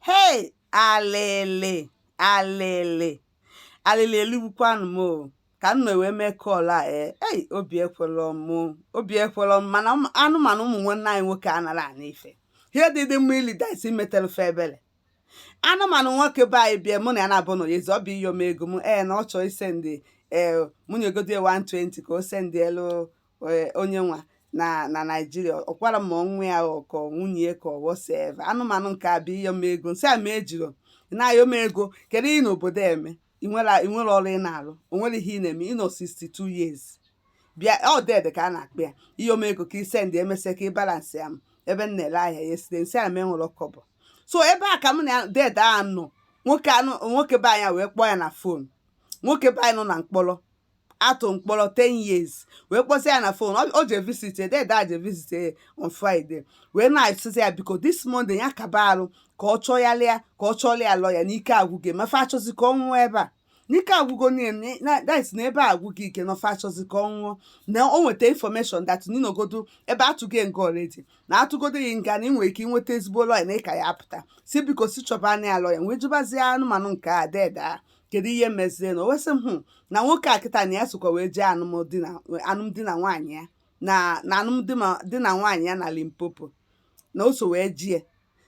hei alịlị alịlị alịlị eligbukwanụ m o ka m wee mee call a ee ei obi ekwelọ m obi ekwelọ m mana anụmanụ ụmụ nwanne anyị nwoke anara ana ife ihe dị dị mma ili daisi metelụ fa ebele anụmanụ nwoke be anyị bịa mụ na ya na-abụ na ya ezi ọ bụ ịyọ m ego ee na ọ chọọ isendị ee mụ nyegodi 120 ka o sendịelụ e, onye nwa nọ na naijiria ọ kwara ma ọ nwa ya ọ kọ nwunye ya ka ọ whatsoever anụmanụ nke a bụ ịyọ m ego m sị a mụ ejiro ị na-ayọ m ego kedu ihe ị nọ n'obodo eme ị nwere ị nwere ọrụ ị na-arụ o nwere ihe ị na-eme ị nọ 62 years bịa ọ dede ka a na-akpa ya ịyọ m ego ka ị send emesịa ka ị balansị ya m ebe m na-ele ahịa ya site m sị a mụ enwerọ kọbọ so ebe a ka m na dede a nọ nwoke anụ nwoke be anyị a wee kpọọ ya na fon nwoke be anyị nọ na mkpọrọ a tụ mkpọrọ 10 years wee kpọzie ya na fon o je visit ya dede a je visit ya on Friday wee na-asịzi ya biko this Monday ya kaba arụ ka ọ chọgharịa ka ọ chọrọ ya lọya n'ike agwụgị ma fa achọzi ka ọ nwụọ ebe a n'ike agwụgo niile na that na ebe a agwụghị ike na fa achọzi ka ọ nwụọ na o nweta information that na ị nọgodu ebe a tụgo nga already na a tụgodu ya nga na ị nwere ike inweta ezigbo lọya na ị ka ya-apụta si biko si chọba anya ya lọya wee jụbazie anụmanụ nke a dede a kedu ihe mezie na o wee sị m hụ na nwoke a kịta na ya sokwa wee jee alụmdi na alụmdi na nwaanyị ya na na alụmdi ma- di na nwaanyị ya na limpopo na o so wee jee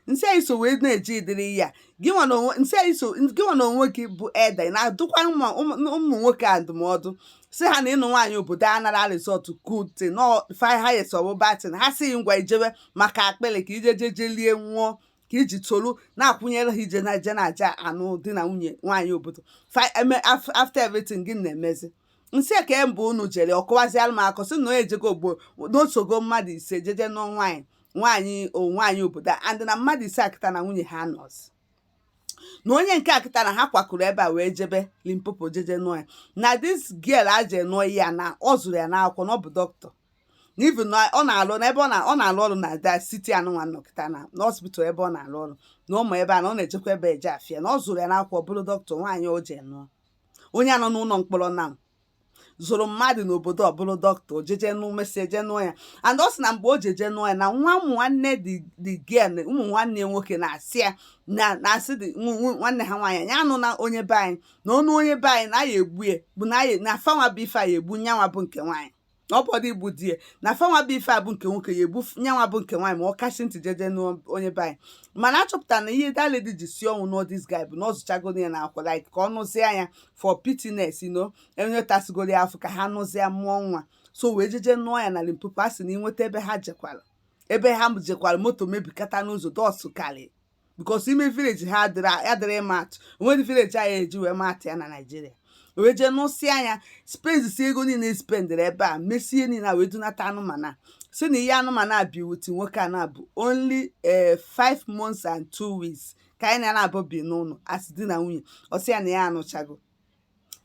m sị a ị so wee na-eji ịdịrị ya gị nwa na onwe m sị a ị so gị nwa na onwe gị bụ elder ị na-adụkwa ụmụ ụmụ- ụmụ nwoke a ndụmọdụ si ha na ịnụ nwaanyị obodo anara result good thing na few years ọ bụ bad thing ha si ngwa i jewe maka akpịrị ka i je jeje lie nwụọ ka i ji tolu na-akwụnyere ha ije na ije na-eje anụ di na nwunye nwaanyị obodo fa eme af- after everything gị na-emezi m sị kee mgbe unu jere ọ kọwaziara m akọ sị na onye ejego ogbo na o sogo mmadụ ise jeje nụọ nwaanyị nwaanyị o nwaanyị obodo a and na mmadụ ise a kịta na nwunye ha nọzi na onye nke a kịta na ha kwakọrọ ebe a wee jebe limpopo jeje nụọ ya na this girl a je nụọ ya na ọ zụrụ ya n'akwụkwọ na ọ bụ dọkịta na even na ọ na-alụ na ebe ọ na- ọ na-alụ ọrụ na that city anụnwa m nọ kịta na na hospital ebe ọ na-alụ ọrụ na ụmụ ebe a na ọ na-ejekwa ebe eje afịa na ọ zụrụ ya n'akwụkwọ bụrụ dọkịta nwaanyị o je nụọ onye a nọ n'ụlọ mkpọrọ na zụrụ mmadụ n'obodo ọ bụrụ dọkịta o jeje nụọ mesịa eje nụọ ya and ọ sị na mgbe o jeje nụọ ya na nwa ụmụ nwanne the the girl ụmụ nwanne ya nwoke na-asị ya na na-asị dị nw- nw- nwanne ha nwaanyị ya anụna onye be anyị na ọ nụọ onye be anyị na ya egbu ya bụ na ya na fanwa bụ ife a ya egbu nyanwa bụ nke nwaanyị na ọ bụrọdụ igbu di ya na fanwa bụ ife a bụ nke nwoke ya egbu nyanwa bụ nke nwaanyị ma ọ kachi ntị jeje nụọ onye be anyị mana a chọpụtara na ihe that lady ji si ọnwụ nụọ this guy bụ na ọ zụchagoro ya na akwụkwọ like ka ọ nụzie ya for pityness you know na ya tasigoro ya afọ ka ha nụzie mụọ nwa so wee jeje nụọ ya na limpopo a sị na inweta ebe ha jekwara ebe ha jekwara moto mebikata n'ụzọ dọsụ karị bikos ime vileji ha adịrị ịma atụ onwedị vileji anyị eji wee ma atụ ya na naijiria wee jee nụsịa nya spendisi ego niile spendịrị ebe a mesie niile a wee dunata anụmanụ a si na ihe anụmanụ a bi with nwoke a na-abụ only eh, five months and two weeks ka ha naabọ bi n'ụlọ as di na nwunye ọ sị ya na ya anụchago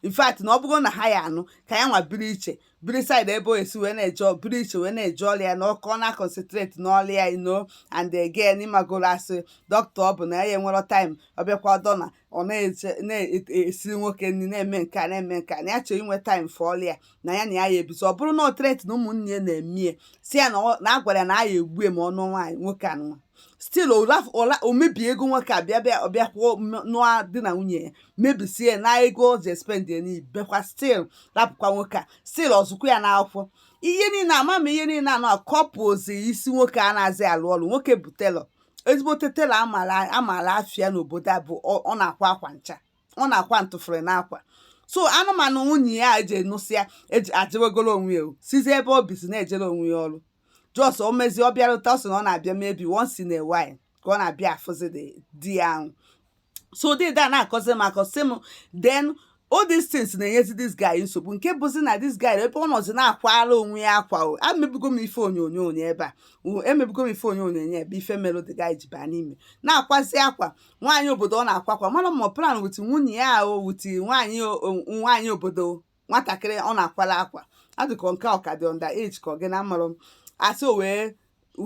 in fact na ọ bụrụ na ha ya anụ ka ya nwa biri iche biri saịdị ebe o esi wee na-eje biri iche wee na-eje ọrụ ya na ka ọ na-akọnsentreti n'ọrụ ya you know and again ị magoro as dọkịta ọ bụ na ya enwero taịm ọ bịakwa dọna ọ na-eje na-esi nwoke nri na-eme nke a na-eme nke a na ya chọrọ inwe taịm fọ ọrụ ya na ya na ya ya ebizi ọ bụrụ na ọ treti na ụmụnne ya na-emie si ya na ọ- na a gwara ya na a ya egbue ma ọ nụọ nwaanyị nwoke anụnwa stil o mebie ego nwoke a bịa bịa ọ bịa kwuo na di na nwunye ya mebisie na ego o ji espend ya n'iyi bịakwa stil rapụkwa nwoke a stil ọzụkwa ya n'akwụkwọ ihe niile ama m ihe niile a na-akọpụzi isi nwoke a na-azị alụ ọrụ nwoke bụ telọ ezigbote telọ a maala afa ya n'obodo a bụ ọ na-akwa akwa ncha ọ na-akwa ntụfere n'akwa so anụmanụ nwunye ya eji enụsịa eji ajewegoro onwe ya o sizi ebe o bizi na-ejere onwe ya ọrụ jos o mezie ọ bịarụta ọ sị na ọ na-abịa maybe once in a while ka ọ na-abịa afụzi the- di ya ahụ so dede na-akọzi m akọ sị m then all these things na-enyezi this guy nsogbu nke bụzi na this guy ebe ọ nọzi na-akwara onwe ya akwa o emebugo m ife onyonyo ya ebe a o, emebugo m ife onyonyo ya ebe ife merụ the guy ji baa n'ime na-akwazi akwa nwaanyị obodo ọ na-akwa akwa mara ma plan wit nwunye ya o wit nwaanyị nwaanyị obodo nwatakịrị ọ na-akwala akwa a dị ka nke ọ ka dị under age ka ọ gịnị amarọ m a sị o wee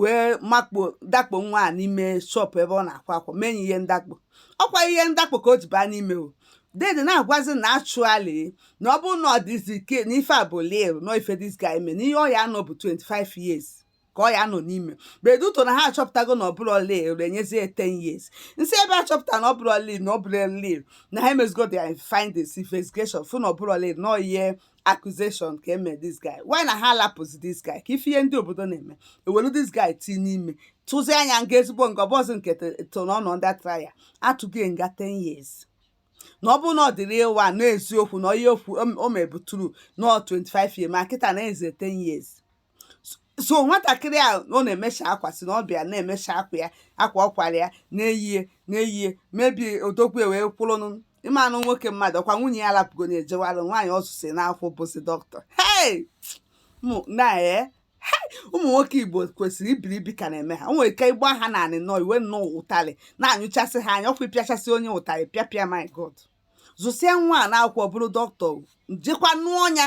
wee makpo dakpo nwa a n'ime shọpụ ebe ọ na-akwa akwa mee ya ihe ndakpo ọ kwa ihe ndakpo ka o ji baa n'ime o dede na-agwazi na actually na ọ bụrụ na ọ dịzi ka na ife a bụ real na ife this guy mee na ihe ọ ya-anọ bụ 25 years ka ọ ya-anọ n'ime but due to na ha achọpụtago na ọ bụrọ real e nyezie ya 10 years m sị ebe a chọpụta na ọ bụrọ real na ọ bụrọ real na ha emezigo their findings investigation fụ na ọ bụrọ real na ihe accusation ka e me this guy why not ha lapụzi this guy ka ị fụ ihe ndị obodo na-eme e welu this guy tii n'ime tụzie nya nga ezigbo nga ọ bụrọzi nke to na ọ nọ na trial a tụgo nga 10 years na ọ bụrụ na ọ dị real na eziokwu na ihe okwu o mebuturu na 25 years ma kịta na eze 10 years so nwatakịrị a ọ na-emecha akwa si na ọ bịa na-emecha akwa ya akwa ọ kwara ya na-eyie na-eyie maybe odogwu wee kwụrụnụ ị manụ nwoke mmadụ ọkwa nwunye ya rapụgo na-ejewalụ nwaanyị ọ zụsị n'akwụkwọ bụzi dọkịta hey na ee ụmụ nwoke igbo kwesịrị iberibe ka na-eme ha o nwere ike ịgba ha naanị nọ iwe nnọọ ụtarị na-anyụchasị ha anya ọkwa ịpịachasị onye ụtarị pịapịa my god zụsịa nwa a n'akwụkwọ bụrụ dọkịta jekwa nụọ nya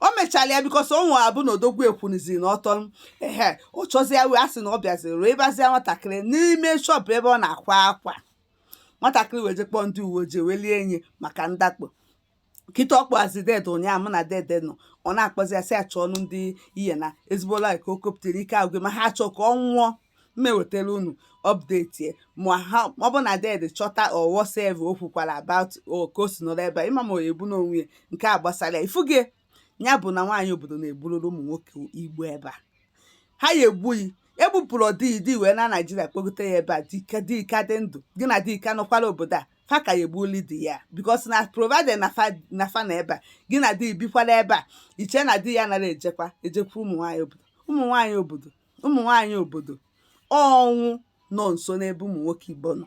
o mechala ya because o nwere abụ na odogwu ekwuniziri na ọtọ ehe ọ chọzi ya wee asị na ọ bịaziri wee bazia nwatakịrị n'ime shọpụ ebe ọ na-akwa akwa nwatakịrị wee je kpọọ ndị uwe ojii wee lie enyi maka ndakpo kịta ọ kpọazi dede ụnyaahụ mụ na dede nọ ọ na-akpọzi ya sị achọ ọnụ ndị ihe na ezigbo like o kopụtara ike agwụ ma ha achọ ka ọ nwụọ m ewetara unu update ya ma ha ọ bụ na dede chọta or whatever o kwukwara about o ka o si nọrọ ebe a ịma ma ọ ya ebu n'onwe ya nke a gbasara ya ị fụgo ya bụ na nwaanyị obodo na-egburụrụ ụmụ nwoke Igbo ebe a ha ya egbughị egbupụrụ ọdịyi di wee na Naijiria kpọgote ya ebe a di ka di ka dị ndụ gị na di ka nọkwara obodo a fa ka ya egbuli di ya because na provided na fa na fa na ebe a gị na di bikwara ebe a i che na di ya nara ejekwa ejekwa ụmụ nwaanyị obodo ụmụ nwaanyị obodo ụmụ nwaanyị obodo ọnwụ nọ nso n'ebe ụmụ nwoke Igbo nọ